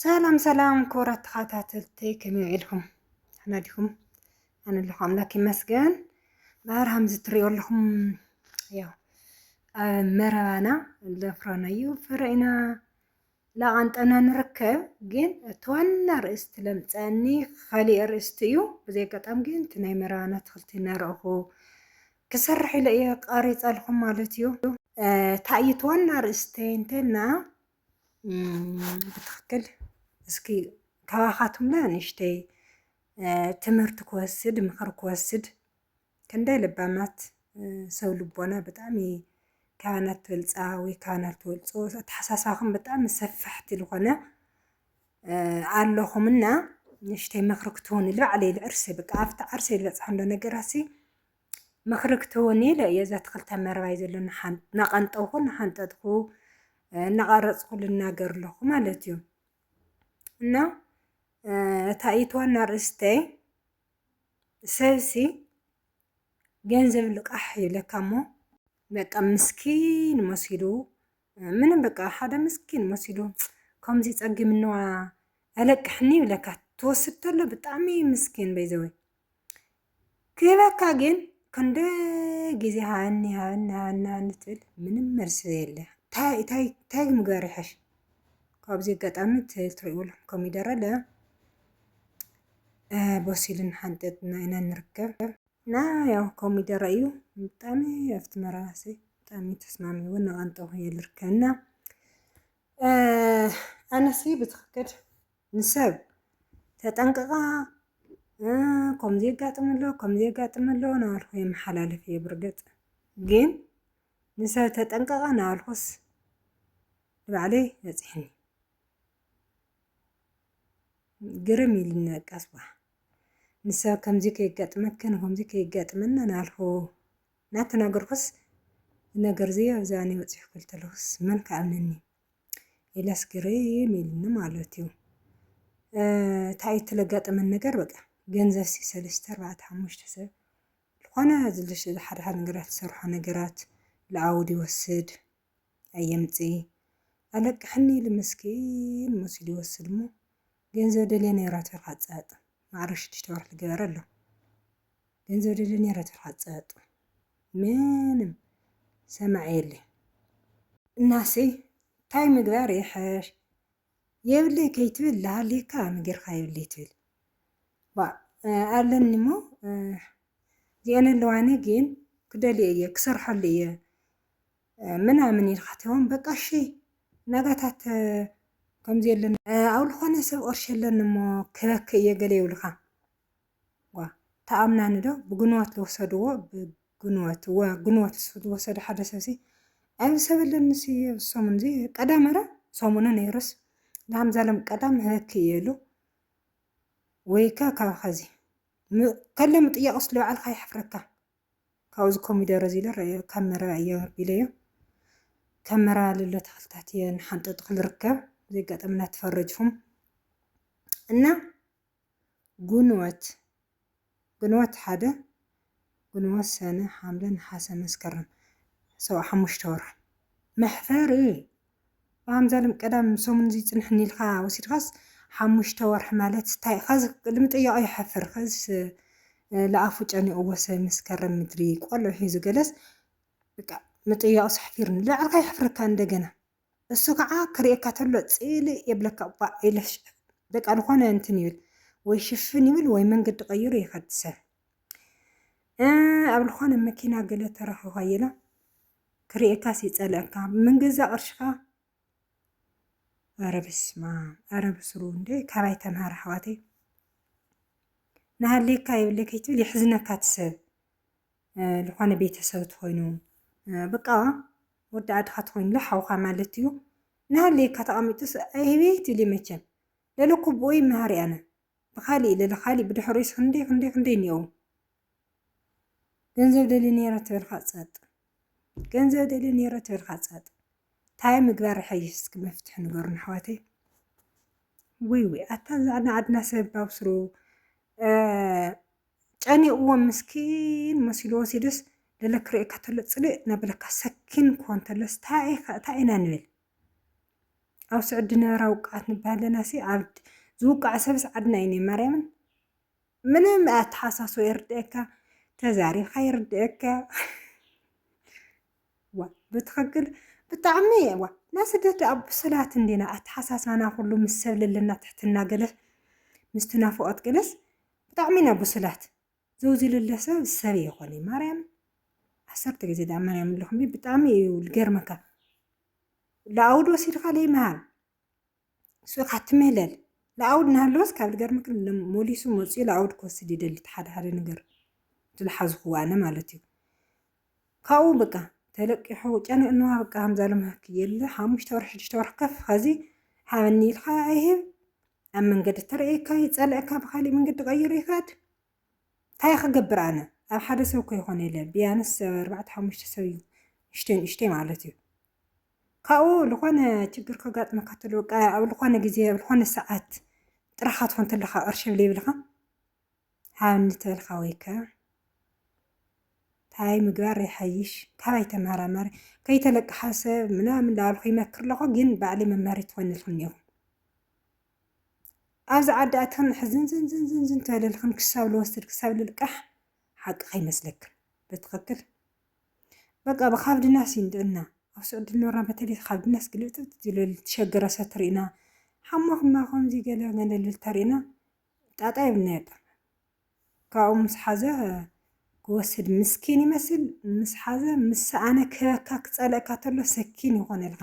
ሰላም ሰላም ክቡራት ተኸታተልቲ ከመይ ውዒልኩም? ደሕና ዲኹም? ኣነ ኣለኹ ኣምላክ ይመስገን። ባህር ሃምዚ ትሪኦ ኣለኹም ያው ኣብ መረባና ለፍረናዩ ፍረ ኢና ላቓንጠና ንርከብ ግን እቲ ዋና ርእስቲ ለምፀኒ ካሊእ ርእስቲ እዩ። ብዘይ ኣጋጣሚ ግን እቲ ናይ መረባና ኣትክልቲ እናረእኹ ክሰርሕ ኢለ እየ ቃሪፀልኹም ማለት እዩ። ታይት ዋና ርእስቲ እንተና ብትክክል እስኪ ካባኻትኩም ለ ንእሽተይ ትምህርቲ ክወስድ ምኽሪ ክወስድ ክንደይ ልባማት ሰብ ልቦና ብጣዕሚ ካባናት ትበልፃ ወይ ካባናት ትበልፆ ኣተሓሳስባኹም ብጣዕሚ ሰፋሕቲ ዝኾነ ኣለኹምና ንእሽተይ ምኽሪ ክትህቡኒ ባዕለይ ልዕርሰይ በቃ ኣብቲ ዓርሰይ ልበፅሓሉ ነገራትሲ ምኽሪ ክትህቡኒ ኢለ እየ እዛ ተኽልተ መረባይ ዘሎ እናቐንጠውኩ እናሓንጠጥኩ እናቐረፅኩ ልናገር ኣለኹ ማለት እዩ እና እታ ኢት ዋና ርእስተይ ሰብሲ ገንዘብ ልቃሕ ይብለካ እሞ በቃ ምስኪን መሲሉ ምንም በቃ ሓደ ምስኪን መሲሉ ከምዚ ፀጊምንዋ ኣለቅሕኒ ይብለካ ትወስድ ተሎ ብጣዕሚ ምስኪን በይዘወይ ክህበካ ግን ክንደይ ግዜ ሃኒ ሃኒ ሃኒ ሃኒ ትብል ምንም መልሲ የለ ታይ ታይ ታይ ምግበር ይሐሽ ካብዚ ኣጋጣሚ ትሪእሉ ኮሚደረ ለ በሲሉን ሓንጠጥና ኢና ንርከብ እና ያው ኮሚደረ እዩ ብጣዕሚ ኣብቲ መራባሲ ብጣዕሚ ተስማሚ እውን ንቀንጠ ይልርከና ኣነሲ ብትክክል ንሰብ ተጠንቅቃ ከምዚ የጋጥም ኣሎ ከምዚ የጋጥም ኣሎ ናበልኩ የመሓላልፍ እየ ብርግፅ ግን ንሰብ ተጠንቅቃ ናበልኩስ ንባዕለይ በፂሕኒ ግርም ኢልኒ በቃ ስዋ ንሰብ ከምዚ ከየጋጥመክን ከምዚ ከየጋጥመና ናበልኩ እናተናገርኩስ ነገር እዚ ኣብዛኒ በፂሑ ክብል ተለኹስ መን ክኣምነኒ ኢለስ ግርም ኢሉኒ ማለት እዩ እንታይ እዩ እትለጋጠመን ነገር በቃ ገንዘብ ሲ ሰለስተ ኣርባዕተ ሓሙሽተ ሰብ ዝኾነ ዝልሽ ሓደ ሓደ ነገራት ዝሰርሖ ነገራት ለኣውድ ይወስድ ኣየምፂ ኣለቅሕኒ ኢሉ ምስኪን መሲሉ ይወስድ እሞ ገንዘብ ደልየ ነይራ ትብል ሓፃጥ ማዕረ ሽዱሽተ ወርሒ ዝገበረ ኣሎ ገንዘብ ደሊ ነረ ትርሓ ጸጥ ምንም ሰማዕ የለ እናሰይ ታይ ምግባር ይሐሽ የብለይ ከይትብል ላሃልካ ምገርካ የብለይ ትብል ኣለኒ እሞ እዚአን ኣለዋኒ ግን ክደልየ እየ ክሰርሐሉ እየ ምናምን ኢልካ ትሆን በቃ እሺ ናጋታት ከምዚ የለን ኣብ ዝኾነ ሰብ ኦርሽ የለን እሞ ክበክ እየ ገለ ይብልካ ዋ ተኣምናኒ ዶ ብግንወት ዝወሰድዎ ብግንወት ወ ግንወት ዝወሰደ ሓደ ሰብሲ ኣብዚ ሰብ ኣለኒ ሲ ኣብ ሰሙን እዚ ቀዳም ኧረ ሰሙኑ ነይሩስ ላም ዘለም ቀዳም ህበክ እየ ኢሉ ወይከ ካብ ኸዚ ከለ ምጥያቕ ስለ ባዕልካ ይሕፍረካ ካብዚ ኮሚደረ እዚ ኢለ ረኣዮ ካብ መረባ እየ ኣምርቢለዮ ካብ መረባ ልሎ ተክልታት እየ ንሓንጠጥኩ ልርከብ እዚ ኣጋጣሚ እናተፈረጅኩም እና ጉንወት ጉንወት ሓደ ጉንወት ሰነ ሓምለ ነሓሰ መስከረም ሰው ሓሙሽተ ወርሒ መሕፈሪ ኣምዛሉም ቀዳም ሰሙን እዚ ጽንሕኒ ኢልካ ወሲድካስ ሓሙሽተ ወርሒ ማለት ታይ ከዚ ንምጥያቁ ይሓፍር ከዚስ ልኣፉ ጨኒቅዎ ሰብ መስከረም ምድሪ ቆልዑ ሒዙ ገለስ ብቃ ምጥያቁስ ኣሕፊሩኒ ልባዕልካ የሕፍረካ እንደገና እሱ ከዓ ክርእየካ ተሎ ጽልእ የብለካ ባእ ኢለሽ በቃ ዝኾነ እንትን ይብል ወይ ሽፍን ይብል ወይ መንገዲ ቀይሩ ይኸድ ሰብ ኣብ ዝኾነ መኪና ገለ ተረኺኳ የለ ክርእየካስ ይጸልኣካ ምንገዛ ቅርሽካ ኣረ በስማም ኣረ ብስሩ እንደ ካባይ ተምሃር ኣሕዋተይ ንሃልየካ የብለይ ከይትብል የሕዝነካ ትሰብ ዝኾነ ቤተሰብ ትኾይኑ በቃ ወዲ ኣድኻ ትኾይኑሎ ሓውኻ ማለት እዩ ንሃልየካ ተቐሚጡስ ኣይቤት ይብሊ መቸም ለለ ኩብኡ ይመሃር ያነ ብካሊእ ለለ ካሊእ ብድሕሪኡስ ክንደይ ክንደይ ክንደይ እኒኦው ገንዘብ ደልየ ኔረ ተበልካ ጸጥ ገንዘብ ደልየ ኔረ ተበልካ ጸጥ ታይ ምግባር ይሐይሽ እስኪ መፍትሒ ንገሩና ኣሕዋተይ። ወይ ወይ ኣታ እዛ ናይ ዓድና ሰብ ባብስሩ ጨኒቕዎም ምስኪን መሲሉ ወሲዱስ ገለ ክርእየካ ተሎ ፅልእ እናበለካ ሰኪን ክኾን ተሎስ ታይ ኢኻ ታይ ኢና ንብል? ኣብ ስዑዲ ዝነበራ ውቃዓት ንበሃል ኣለናሲ ኣብ ዝውቃዕ ሰብስ ዓድና እዩ እኒኦ ማርያምን ምንም ኣተሓሳሶ ይርድእካ ተዛሪብካ ይርድእካ ዋ ብትክክል ብጣዕሚ ዋ ናይ ስደት ደኣ ብስላት እንዲና ኣተሓሳሳና ኩሉ ምስ ሰብ ለለና ትሕትና ገለ ምስ ትናፍቆት ገለስ ብጣዕሚ ኢና ብስላት ዘውዚ ለለ ሰብ ሰብ ይኮነ ማርያም ዓሰርተ ግዜ ደኣ ማርያም ኣለኹም ብጣዕሚ እዩ ዝገርመካ ለኣውድ ወሲድካ ለይምሃብ ሱቅ ኣትምህለል ልኣውድ ናሃለወስ ካብ ልገርመኪ ሞሊሱ መጽዩ ልኣውድ ክወስድ ይደሊ እቲ ሓደ ሓደ ነገር ዝልሓዝክዎ ኣነ ማለት እዩ ካብኡ በቃ ተለቂሑ ጨንቅንዋ በቃ ከምዛ ልምሃኪ የለ ሓሙሽተ ወርሒ ሽዱሽተ ወርሒ ከፍ ኸዚ ሓበኒ ኢልካ ኣይህብ ኣብ መንገዲ ተርእየካ ይጸልእካ ብካሊእ መንገዲ ቀይሩ ይኸድ ታይ ክገብር ኣነ ኣብ ሓደ ሰብ ከይኮነ ኢለ ብያንስ ሰብ ኣርባዕተ ሓሙሽተ ሰብ እዩ ንእሽተይ ንእሽተይ ማለት እዩ ካብኡ ልኾነ ችግር ከጋጥመካ ተሎ በቃ ኣብ ልኾነ ግዜ ኣብ ልኾነ ሰዓት ጥራኻ ትኾን ተለኻ ቅርሺ ብለይ ብልኻ ሃብኒ ተልካ ወይከ ታይ ምግባር ይሓይሽ ካባይ ተመራመሪ ከይተለቅሓ ሰብ ምናምን ዳበልኩ ይመክር ኣለኹ ግን ባዕለይ መምሃሪ ትኾንልኩም እኒኹም ኣብዚ ዓዲ ኣቲኽን ሕዝንዝንዝንዝን ተበለልኽን ክሳብ ልወስድ ክሳብ ልልቃሕ ሓቂ ከይመስለክን ብትኽክል በቃ ብካብ ድናስ ይንድዕና ኣብ ስዑዲ ልኖርና በተለይ ካብ ድናስ ግልብጥብጥ ዝለል ትሸገረ ሰት ርኢና ሓማኹማ ከምዚ ገለ ገለ ልተርኢና ጣጣ የብልናዮ ጠ ካብኡ ምስ ሓዘ ክወስድ ምስኪን ይመስል ምስ ሓዘ ምስ ሰኣነ ክበካ ክፀለእካ ተሎ ሰኪን ይኾነልካ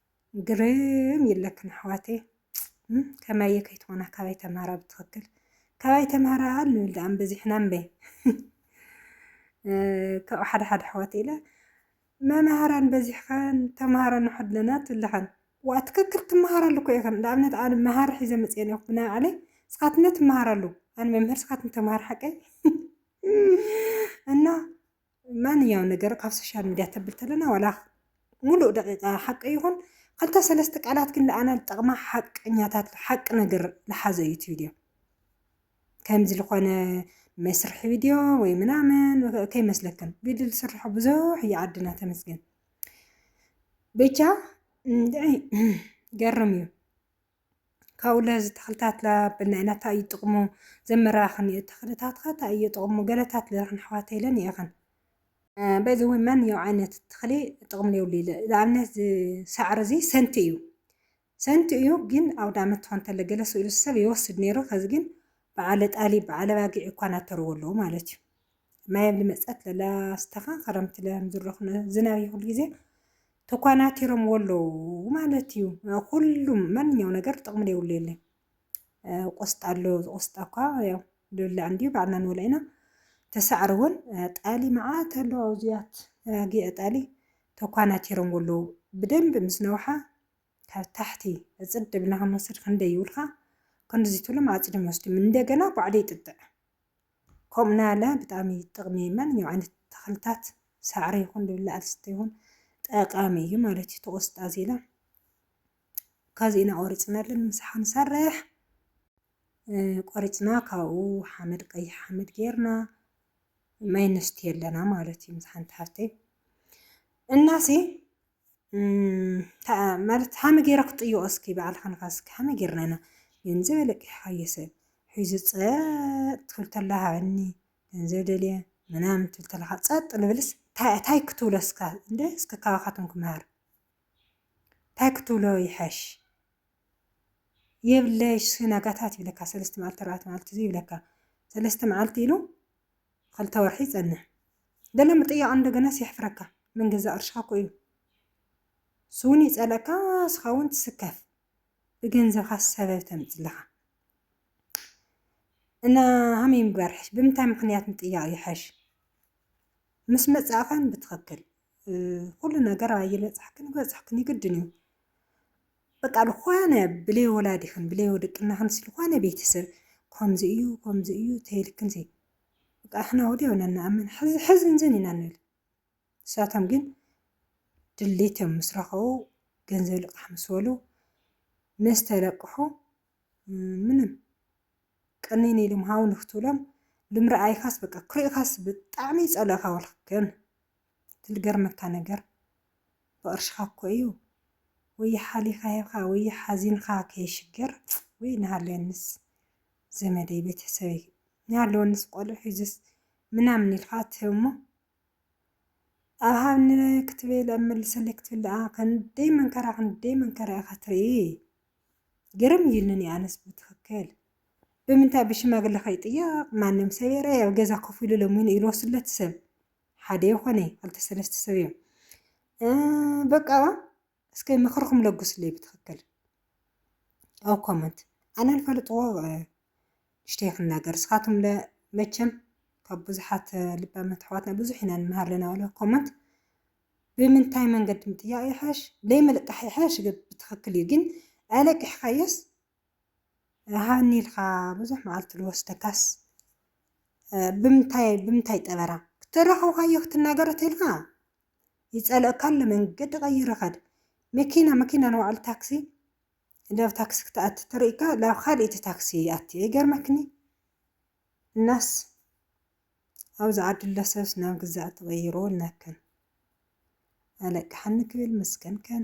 ግርም ይለክን ኣሕዋተይ ከመየ ከይትኾና ካበይ ተምሃራ ብትኽክል ካበይ ተምሃራ ኣሉ ድኣ በዚሕና እምበ ካብኡ ሓደ ሓደ ኣሕዋት ኢለ መምሃራን በዚሕኸን ተምሃሮ ንሓድለና ትብልኸን ዋ ትክክል ትምሃራሉ እኮ ኢኸን ንኣብነት ኣነ መሃሪ ሒዘ መፅአ ኔኹ ብናይ ባዕለይ ንስኻትነ ትምሃራሉ ኣነ መምህር ንስኻትነ ተምሃር ሓቀይ እና ማንኛውን ነገር ካብ ሶሻል ሚድያ ተብል ተለና ዋላ ሙሉእ ደቂቃ ሓቂ ይኹን ክልተ ሰለስተ ቃላት ግን ንኣና ዝጠቕማ ሓቀኛታት ሓቂ ነገር ዝሓዘ እዩ እቲ ቪድዮ ከምዚ ዝኾነ መስርሒ ቪድዮ ወይ ምናምን ከይመስለክን ቪድዮ ዝስርሖ ብዙሕ እዩ ዓድና ተመስገን ብቻ ገርም እዩ ካብኡ ለዚ ተኽልታት ላብ ናይ ናታ እዩ ጥቕሙ ዘመራኽን እዩ ተኽልታት ካታ እዩ ጥቕሙ ገለታት ለረኽን ኣሕዋተይ ለን ይእኽን በይዘወይ መን ያው ዓይነት ተኽሊ ጥቕም ለየብሉ ኢለ ንኣብነት ዝሳዕር እዚ ሰንቲ እዩ ሰንቲ እዩ ግን ኣውዳመት ትኾን ተለ ገለ ስእሉ ሰብ ይወስድ ነይሩ ከዚ ግን በዓለ ጣሊ በዓለ ባጊዕ እኳ ናተርዎ ኣለዎ ማለት እዩ ማየብሊ መፀት ለላስተኻ ክረምቲ ለምዝረኽነ ዝናብ ይኹሉ ጊዜ ተኳናቲሮምዎ ኣለዉ ማለት እዩ። ኩሉም ማንኛው ነገር ጥቕሚ ዘይብሉ የለን። ቆስጣ ኣሎ ቆስጣ እኳ ያው ዝብላዕ እንድዩ ባዕልና ንበልዖ ኢና። ተሳዕሪ እውን ጣሊ መዓት ኣሎ ኣብዚያት ጊዕ ጣሊ ተኳናቲሮምዎ ኣለዉ። ብደንቢ ምስ ነውሓ ካብ ታሕቲ እፅድ ብልና ክንወስድ ክንደይ ይብልካ ክንድዚ ትብሎም ኣፅድም ወስድም እንደገና ባዕሉ ይጥጥዕ። ከምኡ ናለ ብጣዕሚ ጥቕሚ ማንኛውም ዓይነት ተኽልታት ሳዕሪ ይኹን ዝብላዕ ዝስተ ይኹን ጠቃሚ እዩ ማለት እዩ። ተቆስጣ ዜላ ካብዚ ኢና ቆሪፅና ኣለና ምሳሓ ንሰርሕ ቆሪፅና ካብኡ ሓመድ ቀይሕ ሓመድ ጌርና ማይ ነስትዮ ኣለና ማለት እዩ ምስ ሓንቲ ሓፍተይ እናሲ ማለት ሃመ ገይረ ክጥይቆ እስኪ ባዕልካ ንፋስኪ ሃመ ገይርና ኢና ገንዘብ ኣለቂሕካዮ ሰብ ሒዙ ፀጥ ትብል ተላ ሃበኒ ገንዘብ ደልየ ምናምን ትብል ተለካ ፀጥ ንብልስ ታይ ክትብሎ እስካ እንደ እስከ ካባካትም ክምሃር ታይ ክትብሎ ይሐሽ የብለሽ ስናጋታት ይብለካ ሰለስተ መዓልቲ ኣርባዕተ መዓልቲ ይብለካ ሰለስተ መዓልቲ ኢሉ ኸልተ ወርሒ ይጸንሕ ገለ ምጥያቕ እንደገናስ የሕፍረካ ምን ገዛእ ቅርሽኻ እኮ እዩ ስውን ይጸልእካ ስኻውን ትስከፍ ብገንዘብኻ ሰበብ ተምጽ ኣለኻ እና ሃመይ ምግባር ይሐሽ ብምንታይ ምኽንያት ምጥያቕ ይሐሽ ምስ መጻእኸን ብትኽክል ኩሉ ነገር ኣይበጻሕክን ይበጻሕክን ይግድን እዩ በቃ ዝኾነ ብለይ ወላዲኽን ብለይ ወደቅናኽን ዝኾነ ቤተሰብ ከምዚ እዩ ከምዚ እዩ ተይልክን ዘይ በቃ ሕና ወዲያው ኢና ንኣምን ሕዚ ሕዚ እንዘን ኢና ንብል ንሳቶም ግን ድሌት እዮም ምስ ረኸቡ ገንዘብ ልቃሕ ምስ በሉ ምስ ተለቅሑ ምንም ቅኒን ኢሎም ሃው ንክትብሎም ልምርኣይካስ በቃ ክሪእኻስ ብጣዕሚ ይጸልእኻ ወልክን እቲ ልገርመካ ነገር ብቅርሽኻ እኮ እዩ ወይ ሓሊኻ ሂብኻ ወይ ሓዚንኻ ከይሽገር ወይ እናሃለወንስ ዘመደይ ቤተሰበይ እናሃለወንስ ቆልዑ ሒዝስ ምናምን ኢልኻ ትህብ እሞ ኣብ ሃብኒ ክትብል ኣብ መልሰለይ ክትብል ደኣ ክንደይ መንከራ ክንደይ መንከራ ኢኻ ትርኢ ግርም እዩልኒ ኣነስ ብትኽክል ብምንታይ ብሽማግለ ከይጥየቕ ማንም ሰብ የረይ ኣብ ገዛ ኮፍ ኢሉ ለሚኑ ኢሉ ወስለት ሰብ ሓደ ይኾነ ክልተ ሰለስተ ሰብ እዮም በቃ እስከ ምክርኩም ለጉስለይ ብትክክል ኣብ ኮመንት ኣነ ልፈልጥዎ ንሽተይ ክናገር እስኻትም መቸም ካብ ብዙሓት ልባመት ኣሕዋትና ብዙሕ ኢና ንምሃር ኣለና በለ ኮመንት ብምንታይ መንገዲ ምጥያቕ ይሓሽ ለይመልቃሕ ይሓሽ ብትክክል እዩ ግን ኣለቂሕካዮስ ሃኒ ኢልካ ብዙሕ መዓልቲ ዝወስደካስ ብምንታይ ብምንታይ ጠበራ ክተራኽብካዮ ክትናገሮ ተልካ ይጸልኦካ ኣሎ መንገዲ ቀይሩ ኸድ መኪና መኪና ንባዕሉ ታክሲ ናብ ታክሲ ክትኣቲ ተርእካ ናብ ካልእቲ ታክሲ ይኣቲ ይገርመክኒ እናስ ኣብዚ ዓዲ ኣሎ ሰብስ ናብ ግዛዕ ተቐይሩ ኣለክን ኣለቅሓኒ ክብል ምስክንክን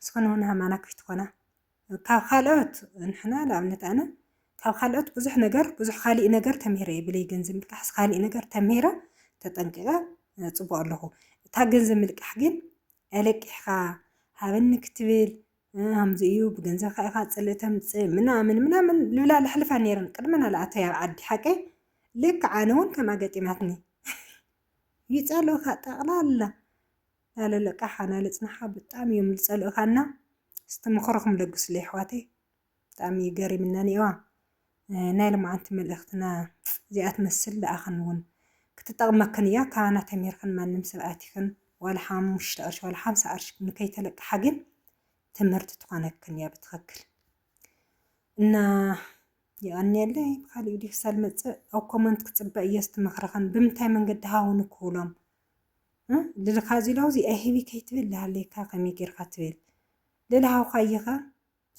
ንስክንውን ሃማና ክፍትኮና ካብ ካልኦት ንሕና ንኣብነት ኣነ ካብ ካልኦት ብዙሕ ነገር ብዙሕ ካሊእ ነገር ተምሂረ እየ ብለይ ገንዘብ ምልቃሕስ ካሊእ ነገር ተምሂረ ተጠንቂቐ ፅቡቕ ኣለኹ እታ ገንዘብ ምልቃሕ ግን ኣለቂሕካ ሃበኒ ክትብል ከምዚ እዩ ብገንዘብካ ኢኻ ፅልእ ተምፅእ ምናምን ምናምን ልብላ ለሕልፋ ነይረን ቅድሚ ናልኣተይ ኣብ ዓዲ ሓቀይ ልክዕ ኣነ እውን ከምኣ ገጢማትኒ ይፀልኡኻ ጠቕላላ ዳለለቃሓ ናለፅናሓ ብጣእሚ እዮም ልፀልኡካና እስቲ ምክርኩም ለግሱለይ ኣሕዋተይ ብጣእሚ እዩ ገሪምና እኒኤዋ ናይ ልማዓንቲ መልእክትና እዚኣ ትመስል ልኣክን እውን ክትጠቅመክን እያ ካባና ተሚርክን ማንም ሰብ ኣቲክን ዋላ ሓሙሽተ ቅርሺ ዋላ ሓምሳ ቅርሺ ንከይተለቃሓ ግን ትምህርቲ ትኮነክን እያ ብትክክል እና የቀንየለይ ብካሊእ ቪድዮ ክሳብ ልመፅእ ኣብ ኮመንት ክፅበ እየ እስቲ ምክርክን ብምንታይ መንገዲ ሃውኒ ክብሎም ልልኻ እዚ ለውዚ ኣይህቢ ከይትብል ልሃለየካ ከመይ ጌርካ ትብል ልልሃውካ እየኻ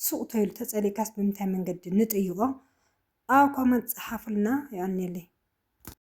ሱቕ ተይሉ ተጸሊእካስ ብምንታይ መንገዲ ንጥይቖ ኣብ ኮመንት ጸሓፉልና የቐንየለይ።